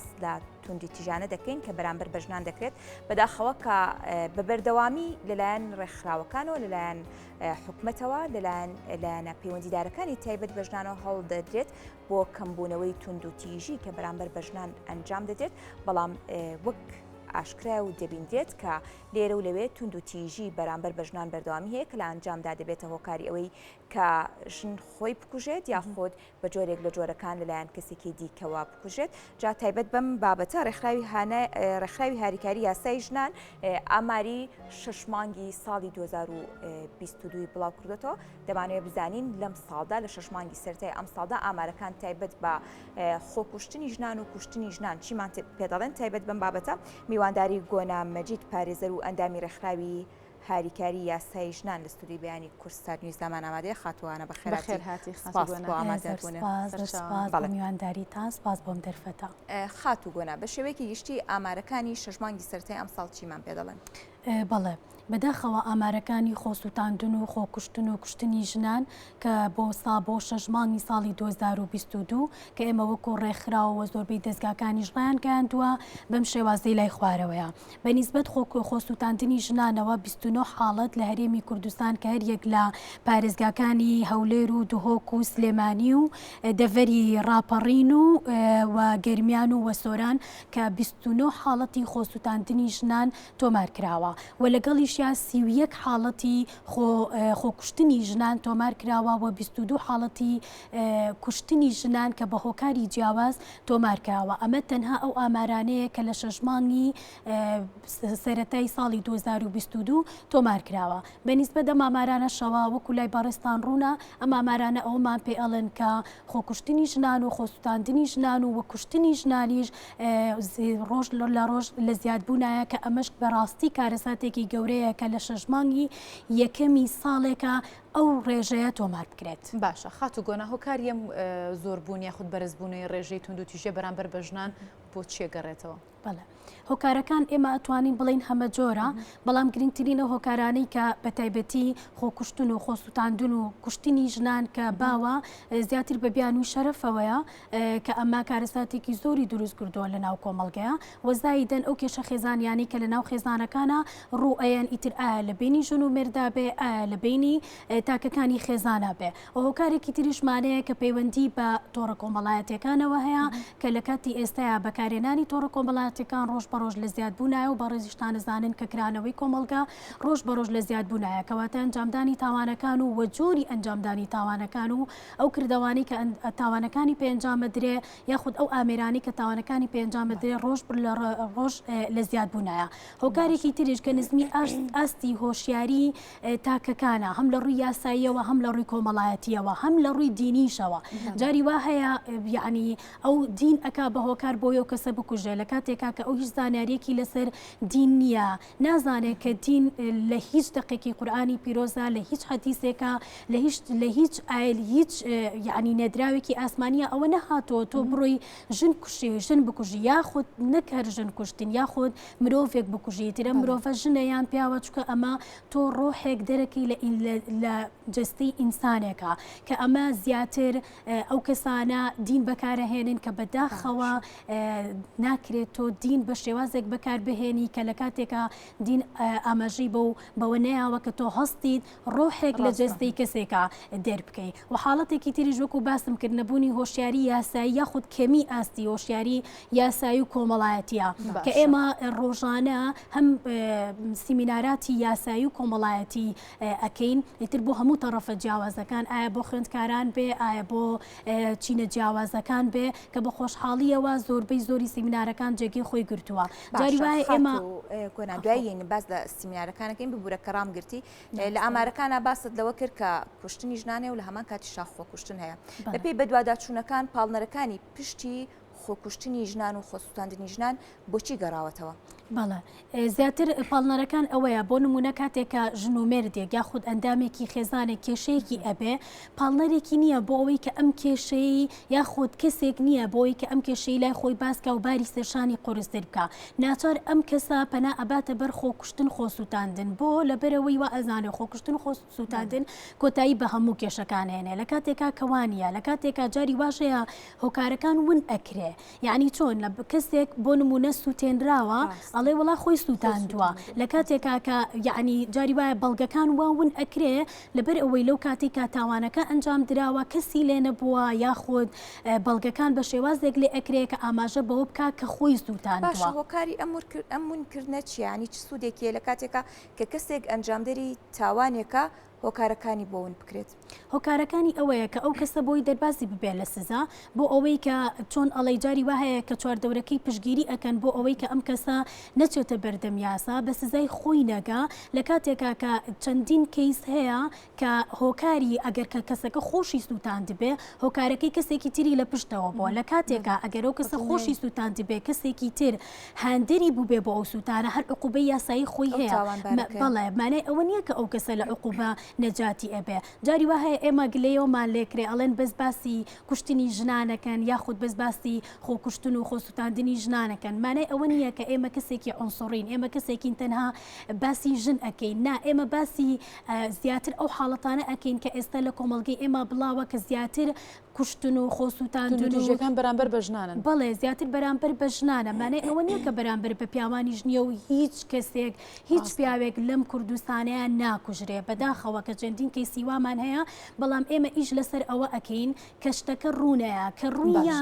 باس لە توندیتیژانە دەکەین کە بەرامبەر بە ژنان دەکرێت بەداخەوە کە بە بەردەوامی لەلایەن ڕێکخراوەکانەوە لەلایەن حکومەتەوە لەلایەن لایەنە پەیوەندیدارەکانی تایبەت بە ژنانەوە هەڵ دەدرێت بۆ کەمبوونەوەی تونند و تیژی کە بەرامبەر بە ژنان ئەنجام دەدرێت بەڵام وەک ئاشکرا و دەبیندرێت کە لێرە و لەوێ تونند و تیژی بەرامبەر بە ژنان بەردەوامی هەیە کە لە ئەنجامدا دەبێتە هۆکاری ئەوەی کە ژن خۆی بکوژێت یا خۆت بە جۆرێک لە جۆرەکان لەلایەن کەسێکی دیکەوە بکوژێت جا تایبەت بەم بابەتە ڕێکخراوی هانای ڕێکخراوی هاریکاری یاسای ژنان ئاماری شش مانگی ساڵی 2022 بڵاو کردێتەوە دەمانوێت بزانین لەم ساڵدا لە شش مانگی سەرای ئەم ساڵدا ئامارەکان تایبەت بە خۆکوشتنی ژنان و کوشتنی ژنان چیمان پێدەڵێن تایبەت بەم بابەتە میوانداری گۆنا مەجید پارێزەر و ئەندامی ڕێکخراوی هاریکاری یاسایی ژنان لە ستوودیۆی بەیانی کوردستانیوز دامان ئامادەیە خاتووانە بە خێراتر هاتی خاتووانەوەمیوانداری تا سپاس بۆم دەرفەتە خاتو گۆنا بە شێوەیەکی گشتی ئامارەکانی شەژمانگی سەرای ئەم ساڵ چیمان پێ دەڵێن بەڵێ بەداخەوە ئامارەکانی خۆسووتاندن و خۆکوشتن و کوشتنی ژنان کە بۆ سا بۆ شەژمانی ساڵی 2022 کە ئێمە وەکو ڕێکخراوەوە زۆربەی دەستگاکانیش ڕیان گەیاندووە بەم شێوازەی لای خوارەوەیە بە نیسبەت خۆسووتاندنی ژنانەوە بیست و نۆ حاڵەت لە هەرێمی کوردستان کە هەر یەک لە پارێزگاکانی هەولێر و دهۆک و سلێمانی و دەڤەری ڕاپەڕین و و گەرمیان و وەسۆران کە بیست و نۆ حاڵەتی خۆسووتاندنی ژنان تۆمار کراوە و لەگەڵیشیا سی و یەک حاڵەتی خۆ خۆکوشتنی ژنان تۆمار کراوە و بیست و دوو حاڵەتی کوشتنی ژنان کە بە هۆکاری جیاواز تۆمار کراوە ئەمە تەنها ئەو ئامارانەیە کە لە شەش مانگی سەتای ساڵی 2022 تۆمار کراوە بەنیسبە دە مامارانەشەوە وەکو لای بەڕێستان ڕوونە ئە مامارانە ئەومان پێ ئەڵێن کە خۆکوشتنی ژنان و خۆستاندنی ژنان و وەکوشتنی ژنانیش ڕۆژ لە ڕۆژ لە زیادبوونایە کە ئەمەش بەڕاستی کارەساتێکی گەورەیە کە لە شەژمانگی یەکەمی ساڵێکە ئەو ڕێژەیە تۆمار بکرێت. باشە خاتو گۆنا هۆکاری ئەم زۆر بوون یاخود بەرز بوونەی ڕێژەی توندو تیژیە بەرامبەر بە ژنان بۆ چیە گەڕێتەوە؟ بەڵێ هۆکارەکان ئێمە ئەتوانین بڵین هەمە جۆرە بەڵام گرنگترین و هۆکارانەی کە بە تایبەتی خۆکوشتن و خۆسووتاندون و کوشتنی ژنان کە باوە زیاتر بە بیانوی شەرەفەوەیە کە ئەمە کارەساتێکی زۆری دروست کردووە لە ناو کۆمەڵگەیە و زایدەن ئەو کێشە خێزانیانی کە لە ناو خێزانەکانە ڕوو ئەیەن ئیتر ئایا لە بینی ژن و مێردا بێ ئایا لە بینی تاکەکانی خێزانە بێ و هۆکارێکی تریش مانەیە کە پەیوەندی بە تۆڕە کۆمەڵایەتەکانەوە هەیە کە لە کاتی ئێستایا بەکارێنانی تۆڕە کۆمەڵاتەکان ڕۆژ بە ڕۆژ لە زیاد بوونایە و بەڕێزیشتانە زانن کە کرانەوەی کۆمەڵگا ڕۆژ بە ڕۆژ لە زیاد بوونایە کەواتە ئەنجامدانی تاوانەکان و وەجۆری ئەنجامدانی تاوانەکان و ئەو کردەوانەی کە تاوانەکانی پێ ئەنجام ئەدرێ یاخود ئەو ئامێرانەی کە تاوانەکانی پێ ئەنجام ئەدرێ ڕۆژ لە ڕۆژ لە زیاد بوونایە هۆکارێکی تریش کە نزمی ئاستی هۆشیاری تاکەکانە هەم لە ڕووی یاساییەوە هەم لە ڕووی کۆمەڵایەتیەوە هەم لە ڕووی دینیشەوە جاری وا هەیە یعنی ئەو دین ئەک بە هۆکار بۆی و کەسە بکوژێ لە کاتێکا کە ئەو هیچ زانیارێکی لەسەر دین نییە نازانێ کە دین لە هیچ دەقێکی قورئانی پیرۆزە، لە هیچ حەدیسێکە، لە هیچ لە هیچ ئایل هیچ یعنی نێدراوێکی ئاسمانیە ئەوە نەهاتۆ تۆ بڕۆی ژن کوشی ژن بکوژی یاخود نەک هەر ژن کوشتن یاخود مرۆڤێک بکوژی ترە مرۆڤە ژنە یان پیاوە چکە ئەمە تۆ ڕۆحێک دەرەکی لە لە جستی ئینسانێکە کە ئەمە زیاتر ئەو کەسانە دین بەکارەهێنن کە بەداخەوە ناکرێت تۆ دین بە شێوازێک بەکاربهێنی کە لە کاتێکا دین ئاماژەی بە و بەوە نەیەوە کە تۆ هەستیت ڕۆحێک لە جێستەی کەسێکە دەربکەی و حاڵەتێکی تریش وەکو باسم کرد نەبوونی هۆشیاری یاسایی یاخود کەمی ئاستی هۆشیاری یاسایی و کۆمەڵایەتە کە ئێمە ڕۆژانە هەم سیمیناراتی یاسایی و کۆمەڵایەتی ئەکەین ئیتر بۆ هەموو تەڕەفە جیاوازەکان ئایا بۆ خوێندکاران بێ ئایا بۆ چینە جیاوازەکان بێ کە بە خۆشحاڵیەوە زۆربەی زۆری سیمینارەکان جێگەی خۆی گرتووە جاری وایە ئێمە کۆنادوایین باز لە سیمینارەکانەکەین ببوورە کە ڕام گرتی لە ئامارەکانە باست لەوە کرد کە کوشتنی ژنانێ و لە هەمان کاتی شاخۆ کوشتن هەیە بەپی بەدواداچوونەکان پاڵنەرەکانی پشتی خۆکوشتنی ژنان و خۆسووتاندنی ژنان بۆچی گەڕاوەتەوە؟ بەڵێ زیاتر پاڵنەرەکان ئەوەیە بۆ نمونە کاتێکە ژن و مێردێک یا خود ئەندامێکی خێزانێک کێشەیەکی ئەبێ پاڵنەرێکی نییە بۆ ئەوەی کە ئەم کێشەی یا خود کەسێک نییە بۆی کە ئەم کێشەی لای خۆی باسکە و باری سەرشانی قورستر بکە ناچار ئەم کەسە پەنا ئەباتە بەر خۆکوشتن خۆسووتاندن بۆ لەبەرەوەی وە ئەزانێ خۆکوشتن خۆست سووتاندن کۆتایی بە هەموو کێشەکان هێنێ لە کاتێکا کەوانە لە کاتێکا جاری واشەیە هۆکارەکان ون ئەکرێ یعنی چۆن لە کەسێک بۆ نمونە سووتێنراوە ئەڵێ وڵا خۆی سووتاندووە لە کاتێکا کە یعنی جاری وایە بەڵگەکان وا ون ئەکرێ لەبەر ئەوەی لەو کاتی کا تاوانەکە ئەنجام دراوە کەسی لێ نەبووە یاخود بەڵگەکان بە شێوازێک لێ ئەکرێ کە ئاماژە بەوە بک کە خۆی سووتان هۆکاری ئەمور ئەمونکردە چیانی چ سوودێکیە لە کاتێکا کە کەسێک ئەنجامدەری تاوانێکە هۆکارەکانی بۆ ون بکرێت. هۆکارەکانی ئەوەیە کە ئەو کەسە بۆی دەربازی ببێت لە سزا بۆ ئەوەی کە چۆن ئەڵەی جاری وا هەیە کە چواردەورەکەی پشگیری ئەکەن بۆ ئەوەی کە ئەم کەسە نەچێتە بەردەم یاسا بە سزای خۆی نەگا لە کاتێکا کە چەندین کەیس هەیە کە هۆکاری ئەگەر کە کەسەکە خۆشی سووتاندبێ، هۆکارەکەی کەسێکی تری لە پشتەوە بووە، لە کاتێکا ئەگەر ئەو کەسە خۆشی سووتاندبێ کەسێکی تر هاندەری بووبێ بۆ ئەو سووتانە، هەر عقوبەی یاسایی خۆی هەیە. بەڵێ، مانای ئەوە نییە کە ئەو کەسە لە عقوبە نەجاتی ئەبێ. جاری وا هەیە ئێمە گلەیەومان لێ کرێ، ئەڵێن بەس باسی کوشتنی ژنان ئەکەن، یاخود بەس باسی خۆکوشتن و خۆسووتاندنی ژنان ئەکەن. مانای ئەوە نییە کە ئێمە کەسێکی عونسوڕین، ئێمە کەسێکین تەنها باسی ژن ئەکەین. نا، ئێمە باسی زیاتر ئەو حاڵەتانە ئەکەین کە ئێستا لە کۆمەڵگەی ئێمە بڵاوە کە زیاتر کوشتن و خۆسووتان دژەکان بەرامبەر بە ژنانن بەڵێ زیاتر بەرامبەر بە ژنانە مانای ئەوە نییە کە بەرامبەر بە پیاوانیش نییە و هیچ کەسێک هیچ پیاوێک لەم کوردستانەیە ناکوژرێ بەداخەوە کە چەندین کەی سیوامان هەیە بەڵام ئێمە ئیش لەسەر ئەوە ئەەکەین کە شتەکە ڕوونەیە کە ڕوونە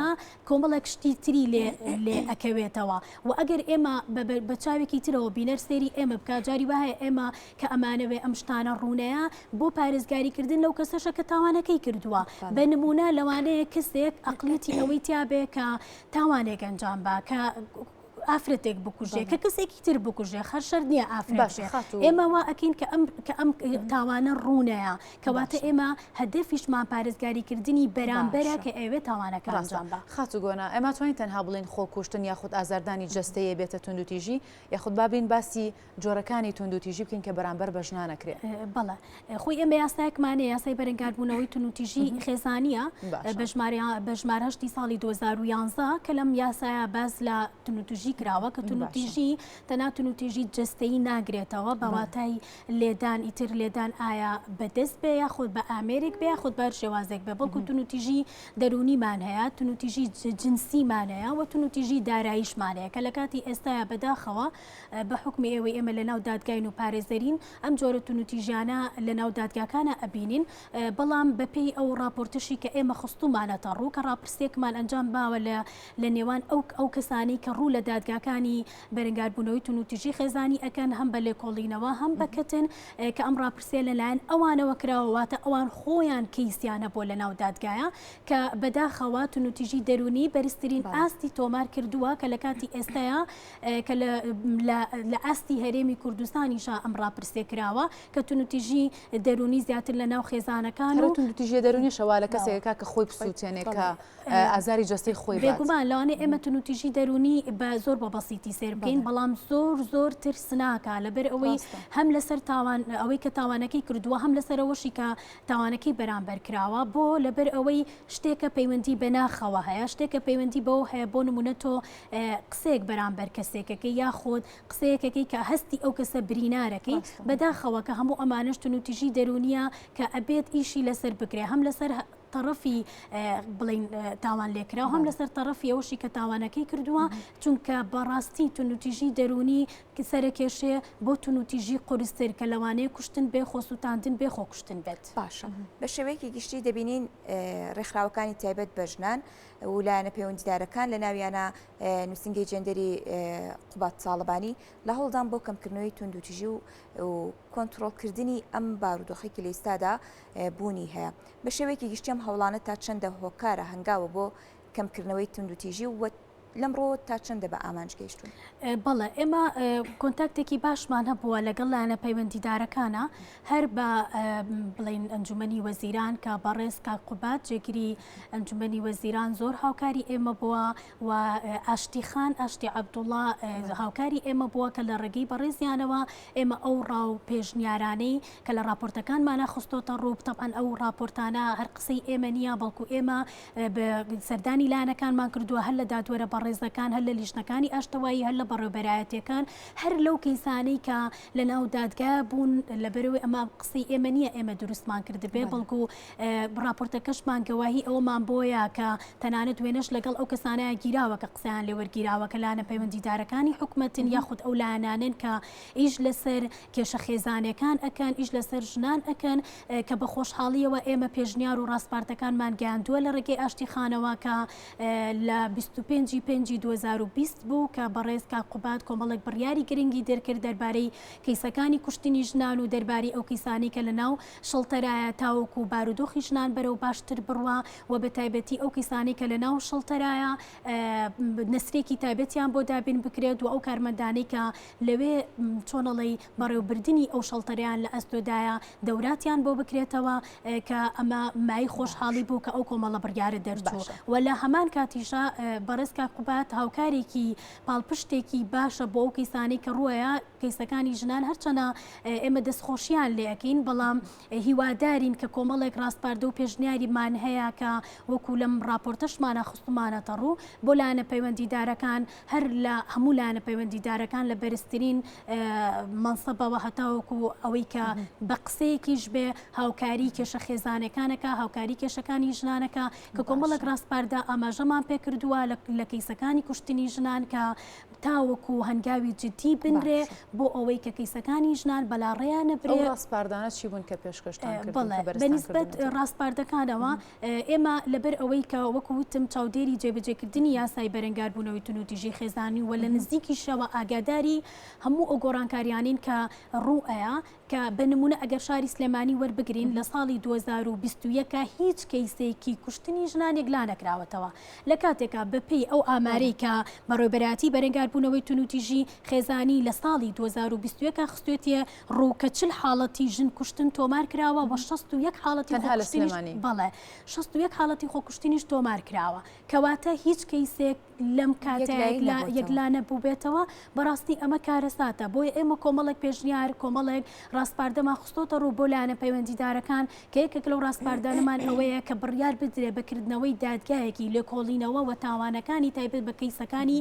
کۆمەڵێک شتی تری لێ لێ ئەکەوێتەوە و ئەگەر ئێمە بە چاوێکی ترەوە بینەر سێری ئێمە بکجاری وایە ئێمە کە ئەمانەوێ ئەم شتانە ڕوونەیە بۆ پارێزگاری کردن لەو کەسەشە کە تاوانەکەی کردووە بە نمونە لەوانەیە کەسێک ئەقلیەتی ئەوەی تیاابێ کە تاوانێک ئەنجام با کە ئافرەتێک بکوژێ کە کەسێکی تر بکوژێ خەرشەر نییە ئافرەشێ ئێمە وا ئەکەین کە ئەم کە ئەم تاوانە ڕوونەیە کەواتە ئێمە هەدەفیشمان پارێزگاری کردنی بەرامبەرە کە ئەوێ تاوانەکە ڕزان بە خاتوگۆنا ئەمە توانین تەنها بڵین خۆکوشتن یاخود ئازاردانی جستەیە بێتە توندوتیژی یاخود بابلین باسی جۆرەکانی توندوتیژی بکەین کە بەرامبەر بە ژنان ئەکرێ بەڵێ خۆی ئێمە یاسایەکمانە یاسای بەرەنگاربوونەوەی توندوتیژی خێزانە بە ژمارە بە ژمار هەشتی ساڵی 2011 کە لەم یاسایە باز لە توندوتیژی کراوە کە توندوتیژی تەنا توندوتیژی جستەی ناگرێتەوە بەواتای لێدان ئیتر لێدان ئایا بەدەست بێ یا خۆت بە ئامێرێک بێ خۆت بەر شێوازێک بێ بەڵکو توندوتیژی دەرونیمان هەیە توندوتیژی جنسیمانەیە وە توندوتیژی داراییشمانەیە کە لە کاتی ئێستاە بەداخەوە بە حوکمی ئێوەی ئێمە لە ناو دادگاین و پارێزەرین ئەم جۆرە تونوتیژیانە لە ناو دادگاکانا ئەبینین بەڵام بە پێی ئەو ڕاپۆرتەشی کە ئێمە خستومانەتە ڕوو کە ڕاپرسێکمان ئەنجام باوە لە لە نێوان ئەو ئەو کەسانەی کە ڕوو لە دادگاکانی بەرەنگار بوونەوەی تونوتیژی خێزانی ئەکەن هەم بە لێکۆڵینەوە هەم بە کەتن کە ئەم ڕاپرسیە لە لایەن ئەوانەوە کراوە واتە ئەوان خۆیان کەیسیان هەبووە لە ناو دادگایا کە بەداخەوە تونوتیژی دەروونی بەرزترین ئاستی تۆمار کردووە کە لە کاتی ئێستایا کە لە ئاستی هەرێمی کوردستانیشا ئەم ڕاپرسیە کراوە کە تونوتیژی دەرونی زیاتر لە ناو خێزانەکان و تونوتیژی دەرونیشەوا لە کەسێکەکە کە خۆی بسووتێنێ کە ئازاری جەستەی خۆی بێگومان لەوانەیە ئێمە تونوتیژی دەرونی بە زۆر بە بەسیتی سێر بکەین بەڵام زۆر زۆر ترسناکە لەبەر ئەوەی هەم لەسەر تاوان ئەوەی کە تاوانەکەی کردووە هەم لەسەرەوەشی کە تاوانەکەی بەرامبەر کراوە بۆ لەبەر ئەوەی شتێکە پەیوەندی بە ناخەوە هەیە شتێکە پەیوەندی بەوە هەیە بۆ نمونە تۆ قسەیەک بەرامبەر کەسێکەکەی یاخود قسەیەکەکەی کە هەستی ئەو کەسە برینارەکەی بەداخەوە کە هەموو ئەمانش تونوتیژی دەرونیە کە ئەبێت ئیشی لەسەر بکرێ هەم لەسەر تەڕەفی بڵین تاوان لێکرا هەم لەسەر تەڕەفی ئەوشی کە تاوانەکەی کردووە چونکە بەڕاستی تونوتیژی دەرونی سەرکێشێ بۆ تونوتیژی قرستر کە لەوانەیە کوشتن بێ خۆسووتاندن بێ خۆ کوشتن بێت باشە بە شێوەیەکی گشتی دەبینین ڕێکخراوەکانی تایبەت بە ژنان و لایەنە پەیوەندیدارەکان لە ناویانە نووسینگەی جێندەری قوباد تاڵەبانی لە هەوڵدان بۆ کەمکردنەوەی توندوتیژی و کۆنتترۆلکردنی ئەم بارودۆخی کە لە ئیستادا بوونی هەیە بە شێوەیەکی گشتیم هەوڵانە تا چەندە هۆکارە هەنگاوە بۆ کەمکردنەوەی توندوتیژی و لەمڕۆ تا چەندە بە ئامانج گەیشتون بەڵێ ئێمە کۆنتاکتێکی باشمان هەبووە لەگەڵ لایەنە پەیوەندیدارەکانە هەر بە بڵین ئەنجومی وەزیران کە بەڕێز کاکوبات جێگیری ئەنجومەنی وەزیران زۆر هاوکاری ئێمە بووە و ئاشتی خان ئاشتی عەبدوڵا هاوکاری ئێمە بووە کە لە ڕێگەی بەڕێزیانەوە ئێمە ئەو ڕا و پێشنیارانەی کە لە ڕاپۆرتەکانمانە خستۆتە ڕوو بتەبەن ئەو ڕاپۆرتانە هەر قسەی ئێمە نییە بەڵکو ئێمە سەردانی لایەنەکانمان کردووە هەر لە دادوەرە بەڕێزەکان هەر لە لیژنەکانی ئاشتەوایی هەر لە بەڕێبەرایەتەکان هەر لەو کەیسانەی کە لە ناو دادگا بوون لەبەرەوەی ئەمە قسەی ئێمە نییە ئێمە دروستمان کردبێ بەڵکو ڕاپۆرتەکەشمان گەواهی ئەوەمان بۆیە کە تەنانەت وێنەش لەگەڵ ئەو کەسانەیان گیراوە کە قسەیان لێ وەرگیراوە کە لایەنە پەیوەندیدارەکانی حکومەتن یاخود ئەو لایەنانەن کە ئیش لەسەر کێشە خێزانەکان ئەکەن ئیش لەسەر ژنان ئەکەن کە بە خۆشحاڵیەوە ئێمە پێشنیار و ڕاسپارتەکانمان گەیاندووە لە ڕێگەی ئاشتی خانەوە کە لە 25 ی پێنجی 2020 بوو کە بەڕێز کاک قوباد کۆمەڵێک بڕیاری گرنگی دەرکرد دەربارەی کەیسەکانی کوشتنی ژنان و دەربارەی ئەو کەیسانەی کە لە ناو شڵتەرایە تاوەکو بارودۆخی ژنان بەرەو باشتر بڕوا و بە تایبەتی ئەو کەسانی کە لە ناو شڵتەرایە نسرێکی تایبەتیان بۆ دابین بکرێت و ئەو کارمەندانی کە لەوێ چۆنەڵی بەڕێوبردننی ئەو شڵتەریان لە ئەستۆدایە دەوراتیان بۆ بکرێتەوە کە ئەمە مای خۆشحاڵی بوو کە ئەو کۆمەڵە بڕیاە دەرچوو و لە هەمان کاتیشە بەڕێزکە قوبات هاوکارێکی پاڵپشتێکی باشە بۆ ئەو کەیسانی کە ڕووە کەیسەکانی ژنان هەرچەنە ئێمە دەستخۆشیان لێ ئەکەین، بەڵام هیوادارین کە کۆمەڵێک ڕاسپاردە و پێشنیاریمان هەیە کە وەکو لەم ڕاپۆرتەشمانا خستومانەتە ڕوو بۆ لایەنە پەیوەندیدارەکان هەر لە هەموو لایەنە پەیوەندیدارەکان لە بەرزترین مەنسەبەوە هەتاوەکو ئەوەی کە بە قسەیەکیش بێ هاوکاری کێشە خێزانەکانەکە هاوکاری کێشەکانی ژنانەکە کە کۆمەڵێک ڕاسپاردە ئاماژەمان پێکردووە لە کەیسەکانی کوشتنی ژنان کە تاوەکو هەنگاوی جدی بنرێ بۆ ئەوەی کە کەیسەکانی ژنان بەلاڕێیان نەبرێت. ئەو ڕاسپاردانە چی بوون کە پێشکەشتان کرد؟ بەڵێ، بە نیسبەت ڕاسپاردەکانەوە ئێمە لەبەر ئەوەی کە وەکو وتم چاودێری جێبەجێکردنی یاسای بەرەنگاربوونەوەی توندوتیژی خێزانی و لە نزیکیشەوە ئاگاداری هەموو ئەو گۆڕانکاریانەین کە ڕوو ئەیا، کە بە نموونە ئەگەر شاری سلێمانی وەربگرین لە ساڵی دوو هەزار و بیست و یەک هیچ کەیسێکی کوشتنی ژنانێک لانەکراوەتەوە لە کاتێکا بە پێی ئەو ئامارەی کە بەڕێوبەرایەتی بەرەنگار بوونەوەی تونوتیژی خێزانی لە ساڵی دوو هەزار و بیست و یەک خستوێتیە ڕوو کە چل حاڵەتی ژن کوشتن تۆمار کراوە وە شەست و یەک حاڵەتی خۆکوشتنیش بەڵێ شەست و یەک حاڵەتی خۆکوشتنیش تۆمار کراوە کەواتە هیچ کەیسێک لەم کاتەیە یەکلانە بووبێتەوە بەڕاستی ئەمە کارەساتە بۆی ئێمە کۆمەڵێک پێشنیار کۆمەڵێک ڕاستپاردەمان خستۆتە ڕوو بۆ لایەنە پەیوەندیدارەکان کە یەکێک لەو ڕاستپاردانەمان ئەوەیە کە بڕیار بدرێ بەکردنەوەی دادگایەکی لێکۆڵینەوە و تاوانەکانی تایبەت بە کەیسەکانی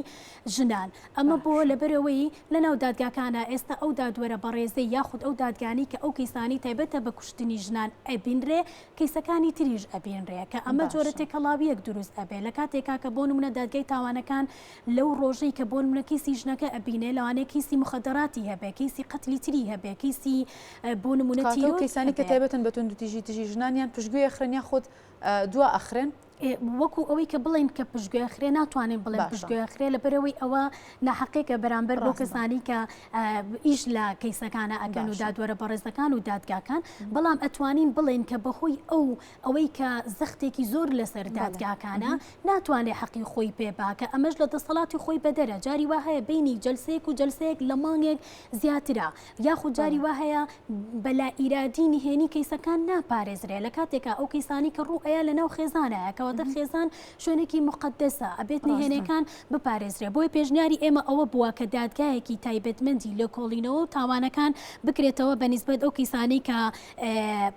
ژنان ئەمە بۆ لەبەرەوەی لەناو دادگاکانە ئێستا ئەو دادوەرە بەڕێزەی یاخود ئەو دادگانی کە ئەو کەیسانی تایبەتە بە کوشتنی ژنان ئەبینرێ کەیسەکانی تریش ئەبینرێ کە ئەمە جۆرە تێکەڵاویەک دروست ئەبێ لە کاتێکا کە بۆ نمونە دادگای تاوانەکان لەو ڕۆژەی کە بۆ نمونە کەیسی ژنەکە ئەبینێ لەوانەیە کەیسی مخدراتی هەبێ کەیسی قەتلی تری هەبێ کەیسی بۆ نمونە تیرۆر کاتەو کەیسانی کە تایبەتن بە توندوتیژی دژی ژنان یان پشتگوێ ئەخرێن یاخود دوا ئەخرێن؟ وەکو ئەوەی کە بڵین کە پشتگوێ خرێ ناتوانین بڵێ پشتگوێ خرێ لە بەرەوەی ئەوە ناحقێکە بەرامبەر بۆ کەسانی کە ئیش لە کەیسەکانە ئەگەن و دادوەرە بەڕێزەکان و دادگاکان بەڵام ئەتوانین بڵین کە بەهۆی ئەو ئەوەی کە زەختێکی زۆر لەسەر دادگاکانە ناتوانێ حەقی خۆی پێ باکە ئەمەش لە دەسەڵاتی خۆی بەدەرە جاری وا هەیە بینی جلسەیەک و جلسەیەک لە مانگێک زیاترە یاخود جاری وا هەیە بە لا ئیرادی نهێنی کەیسەکان ناپارێزرێ لە کاتێکا ئەو کەیسانی کە ڕوو ئەیە لەناو خێزانایە کەواتە خێزان شوێنێکی مقدسە ئەبێت نهێنەکان بپارێزرێ بۆیە پێشنیاری ئێمە ئەوە بووە کە دادگایەکی تایبەتمەندی لێکۆڵینەوە و تاوانەکان بکرێتەوە بە نیسبەت ئەو کەیسانەی کە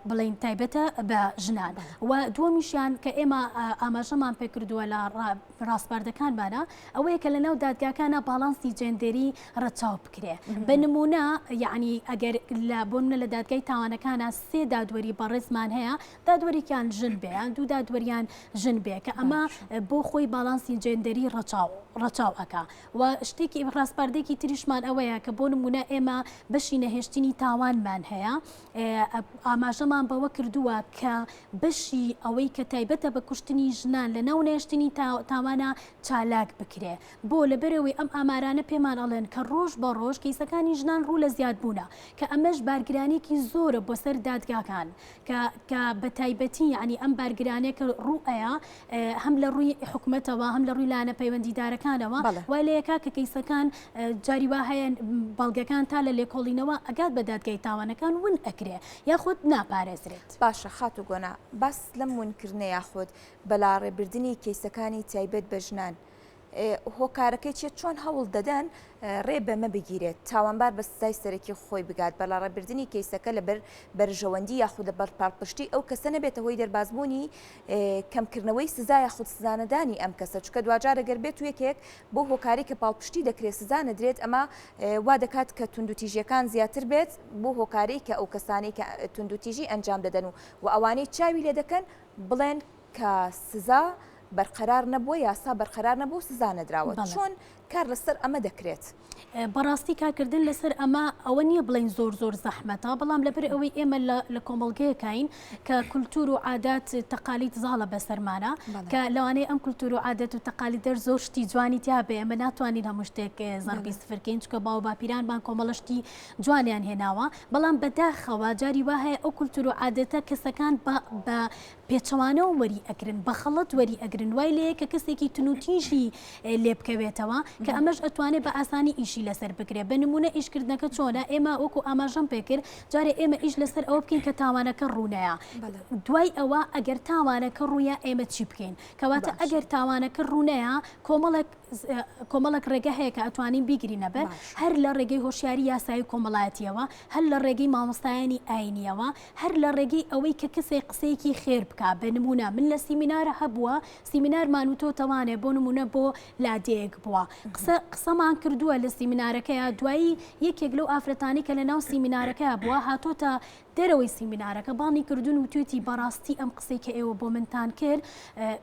بڵین تایبەتە بە ژنان و دووەمیشیان کە ئێمە ئاماژەمان پێکردووە لە ڕاسپاردەکانمانە ئەوەیە کە لەناو دادگاکانە باڵانسی جێندێری ڕەچاو بکرێ بە نمونە یعنی ئەگەر لە بۆ منە لە دادگای تاوانەکانە سێ دادوەری بەڕێزمان هەیە دادوەرێکیان ژن بێیان دوو دادوەریان ژن بێ کە ئەمە بۆ خۆی باڵانسی جێندەری ڕەچاو ڕەچاو ئەک و شتێکی ڕاستپاردێکی تریشمان ئەوەیە کە بۆ نمونە ئێمە بەشی نەهێشتنی تاوانمان هەیە ئاماژەمان بەوە کردووە کە بەشی ئەوەی کە تایبەتە بە کوشتنی ژنان لە ناو نێشتنی تاوانە چالاک بکرێ بۆ؟ لەبەرئەوەی ئەم ئامارانە پێمان ئەڵێن کە ڕۆژ بە ڕۆژ کەیسەکانی ژنان ڕوو لە زیاد بوونە کە ئەمەش بارگرانیەکی زۆرە بۆ سەر دادگاکان کە کە بە تایبەتی یانی ئەم بارگرانیە کە ڕوو ئەیا هەم لە ڕووی حکومەتەوە هەم لە ڕووی لایەنە پەیوەندیدارەکانەوە وای لە یەکا کە کەیسەکان جاری وا هەیە بەڵگەکان تا لە لێکۆڵینەوە ئەگات بە دادگای تاوانەکان ون ئەکرێ یاخود ناپارێزرێت. باشە خاتوو گۆنا باست لەم ونکردنە یاخود بەلاڕێبردنی کەیسەکانی تایبەت بە ژنان هۆکارەکەی چیە چۆن هەوڵ دەدەن ڕێ بەمە بگیرێت تاوانبار بە سزای سەرەکی خۆی بگات بە لاڕێبردننی کەیسەکە لەبەر بەرژەوەندی یاخودە بەر پاڵپشتی ئەو کەسە نەبێتە هۆی دەربازبوونی کەمکردنەوەی سزایە خود سزانەدانی ئەم کەسە چکە دواجارەگەر بێت و یەکێک بۆ هۆکاری کە پاڵپشتی دەکرێت سزا نەدرێت ئەمە وا دەکات کە توندوتیژیەکان زیاتر بێت بۆ هۆکاری کە ئەو کەسانی کە توندوتیژی ئەنجام دەدەن و و ئەوانەی چاوی لێ دەکەن بڵێن کە سزا بەرقەرار نەبووە یاسا بەرقەرار نەبوو سزا نەدراوە چۆن کار لەسەر ئەمە دەکرێت بەڕاستی کارکردن لەسەر ئەمە ئەوە نییە بڵین زۆر زۆر زەحمەتە بەڵام لەبەر ئەوەی ئێمە لە کۆمەڵگەیەکین کە کولتور و عادات تەقالیت زاڵە بەسەرمانە کە لەوانەیە ئەم کولتور و عادەت و تەقالی دەر زۆر شتی جوانی تیا بێ ئەمە ناتوانین هەموو شتێک زەربی سفرکەین چکە باو باپیرانمان کۆمەڵشتی جوانیان هێناوە بەڵام بەداخەوە جاری وهەیە ئەو کولتور و عادەتە کەسەکان بە پێچەوانەوە وەری ئەگرن بەخەڵەت وەری ئەگرن وای لێیە کە کەسێکی تنوتیژی لێ بکەوێتەوە کە ئەمەش ئەتوانێ بە ئاسانی ئیشی لەسەر بگرێ بە نمونە ئیشکردنەکە چۆنە ئێمە وەکو ئاماژەم پێکرد جارێ ئێمە ئیش لەسەر ئەوە بکەین کە تاوانەکە ڕوونەیە دوای ئەوە ئەگەر تاوانەکە ڕوویە ئێمە چی بکەین کەواتە ئەگەر تاوانەکە ڕوونەیە کۆمەڵک کۆمەڵک ڕێگە هەیە کە ئەتوانین بیگرینە بەر هەر لە ڕێگەی هۆشیاری یاسایی کۆمەڵایەتیەوە هەر لە ڕێگەی مامۆستایانی ئاینیەوە هەر لە ڕێگەی ئەوەی کە کەسێک قسەیەکی خێر بکا بە نموونە من لە سیمینارە هەبووە سیمینارمان و تۆ تەوانێ بۆ نموونە بۆ لادێیەک بووە قسە قسەمان کردووە لە سیمینارەکەیە دوایی یەکێک لەو ئافرەتانی کە لە ناو سیمینارەکەیە بووە هاتۆتە دەرەوەی سیمینارەکە بانگی کردوون و توێتی بەڕاستی ئەم قسەی کە ئێوە بۆ منتان کرد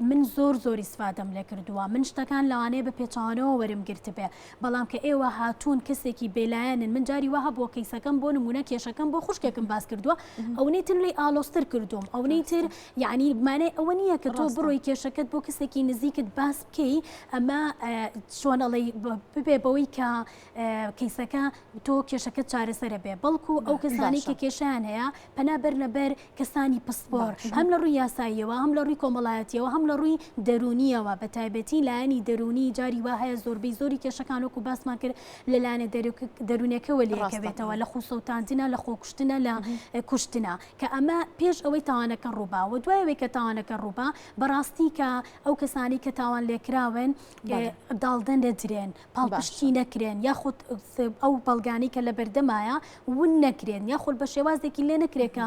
من زۆر زۆری سفادەم لێ کردووە من شتەکان لەوانەیە بە پێچوانەوە وەرم گرتبێ بەڵام کە ئێوە هاتوون کەسێکی بێلایەنن، من جاری وا هەبووە کەیسەکەم بۆ نموونە کێشەکەم بۆ خوشکێکم باس کردووە، ئەونەی تر لێی ئالۆزتر کردووم، ئەونەی تر یانی مانای ئەوە نییە کە تۆ بڕۆی کێشەکەت بۆ کەسێکی نزیکت باس بکەی، ئەمە چۆن ئەڵێی ببێ بەوەی کە کەیسەکە تۆ کێشەکەت چارەسەرە بێ، بەڵکو ئەو کەسانەی کە کێشەیان هەیە پەنا بەرنە بەر کەسانی پسپۆر هەم لە ڕووی یاساییەوە هەم لە ڕووی کۆمەڵایەتیەوە هەم لە ڕووی دەروونیەوە بە تایبەتی لایەنی دەروونی جاری وا هەیە زۆربەی زۆری کێشەکان وەکو باسمان کرد لە لایەنە دەروونەکەەوە لەکەوێتەوە لە خوسەوتاندنە لە خۆکوشتنە لە کوشتنە کە ئەمە پێش ئەوەی تاوانەکە ڕووبا و دوایەوەی کە تاوانەکە ڕووبا بەڕاستی کە ئەو کەسانی کە تاوان لێکراون داڵدەن دەدرێن پاڵپشتی نەکرێن یاخود ئەو بەڵگانەی کە لە بەردەمایە ون نەکرێن یاخود بە شێوازێکی لێ نەکرێکە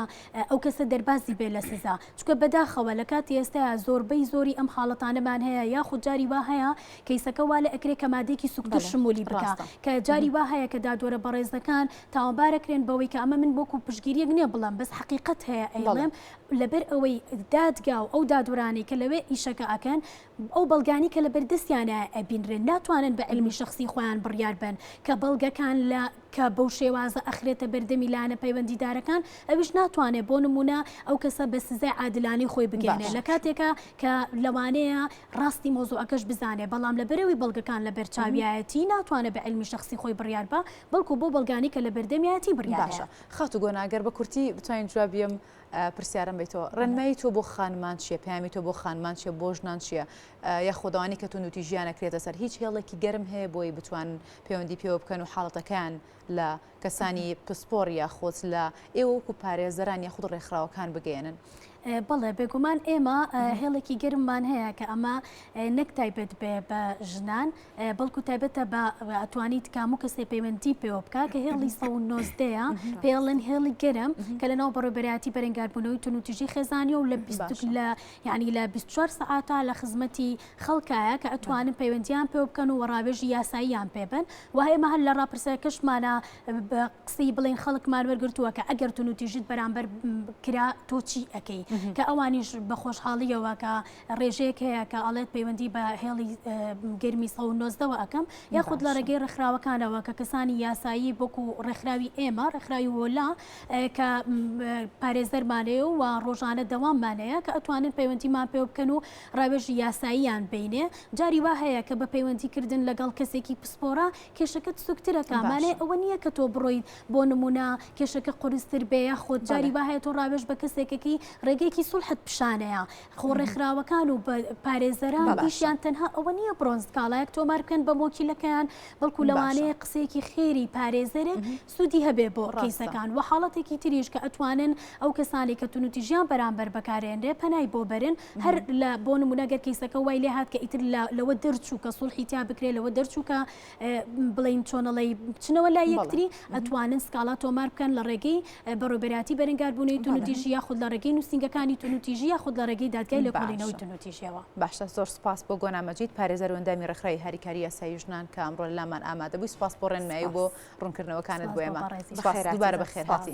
ئەو کەسە دەربازی بێ لە سزا چکە بەداخەوە لە کاتی ئێستا زۆربەی زۆری ئەم حاڵەتانەمان هەیە یاخود جاری وا هەیە کەیسەکە وا لە ئەکرێ کە مادێکی سوکتر شمولی بکە کە جاری وا هەیە کە دادوەرە بەڕێزەکان تاوانبارەکرێن بەوەی کە ئەمە من بۆکو پشگیریەک نییە بڵم بەس حقیقت هەیە ئەڵێم لەبەر ئەوەی دادگا و ئەو دادورانەی کە لەوێ ئیشەکە ئەکەن ئەو بەڵگانەی کە لەبەر دەستیانە ئەبینرێن ناتوانن بە علمی شخصی خۆیان بڕیار بن کە بەڵگەکان لە کە بەو شێوازە ئەخرێتە بەردەمی لایەنە پەیوەندیدارەکان ئەویش ناتوانێت بۆ نمونە ئەو کەسە بە سزای عادلانەی خۆی بگەێنێت لە کاتێکە کە لەوانەیە ڕاستی مۆزوعەکەش بزانێت بەڵام لە بەرەوەی بەڵگەکان لە بەرچاویایەتی ناتوانێت بە علمی شخصی خۆی بڕیار بە بەڵکو بۆ بەڵگانی کە لە بەردەمیەتی بڕیارە خاتو گۆناگەر بە کورتی بتوانین جوابیم پرسیارم بی تۆ ڕێنمایی تۆ بۆ خانمان چیە پامی تۆ بۆ خانمان چیە بۆ ژنان چیە یا خۆداوانی کە تون وتی ژیانە کرێتە سەر هیچ هێڵێکی گەرم هەیە بۆی بتوان پەیوەندی پێوە بکەن و حاڵەتەکان لە کەسانی پسپۆر یا خۆت لە ئێوەکو پارێزەران یا خود ڕێکخراوەکان بگەێنن بەڵێ بێگومان ئێمە هێڵێکی گەرممان هەیە کە ئەمە نەک تایبێت بێ بە ژنان بەڵکو تایبەتە بە ئەتوانیت کامو کەسێ پەیوەندی پێوە بکە کە هێڵی سە نۆزدەیە پێڵێن هێڵی گەرم کە لە ناو بەڕێبەرایەتی بەرەنگاربوونەوەی تونوتیژی خێزانی و لە لە ینی لە 24 سعاتا لە خزمەتی خەڵکایە کە ئەتوانن پەیوەندیان پێ بکەن و ڕاوێژی یاساییان پێبن و ئێمە هەر لە ڕاپرسە کەشمانە قسەی بڵین خەڵکمان وەرگتووە کە ئەگەر تونوتیژت بەرامبەر کرا تۆچی ئەەکەی کە ئەوانیش بە خۆشحاڵیەوە کە ڕێژەیەک هەیە کە ئەڵێت پەیوەندی بە هێڵی گەرمی سە و نۆزدەوە ئەەکەم یاخود لە ڕێگەی ڕێکخراوەکانەوە کە کەسانی یاسایی بۆکو ڕێکخراوی ئێمە ڕێکخراوی وۆلا کە پارێزەرمانەیە و ڕۆژانە دەواممانەیە کە ئەتوانن پەیوەندیمان پێ بکەن و ڕاوێژی یاساییان بینێ جاری وا هەیە کە بە پەیوەندیکردن لەگەڵ کەسێکی پسپۆرە کێشەکەت سوکترەکەمانێ ئەوە نییە کە تۆ بڕۆیت بۆ نمونە کێشەکە قرستر بێ یاخود جاری وا هەیە تۆ ڕاوێژ بە کەسێکەکەی ڕێگەیەکی سوڵحت پیشانەیە خۆ ڕێکخراوەکان و پارێزەران ئیشیان تەنها ئەوە نییە بڕۆن سکاڵایەک تۆمار بکەن بە مۆکیلەکەیان بەڵکو لەوانەیە قسەیەکی خێری پارێزەرێک سوودی هەبێ بۆ ڕیسەکان و حاڵەتێکی تریش کە ئەتوانن ئەو کەسانی کە تونوتی ژیان بەرامبەر بەکارێنرێ پەنای بۆ بەرن هەر لە بۆ نمونەگەر کەیسەکە وای لێ هات کە ئیتر لەوە دەرچوو کە سوڵحی تیا بکرێت لەوە دەرچوو کە بڵین چۆنەڵی بچنەوە لا یەکتری ئەتوانن سکاڵا تۆمار بکەن لە ڕێگەی بەڕۆبەراتی بەرەنگاربوونی تونوتیژی یاخود لە ڕێگەی نووسنگەکانی تونوتیژی یاخود لە ڕێگەی دادگای لە کۆڵینەوەی تونوتیژەوە باشە زۆر سپاس بۆ گۆنا مەجید پارێزەر وەندامی ڕێکخرای هاریکاری یاسایی ژنان کە ئەمڕۆ لامان ئامادەبووی سپاس بۆ ڕێنمایی بۆ ڕوونکردنەوەکانت بۆێمە دوبارە بەخێرهاتی.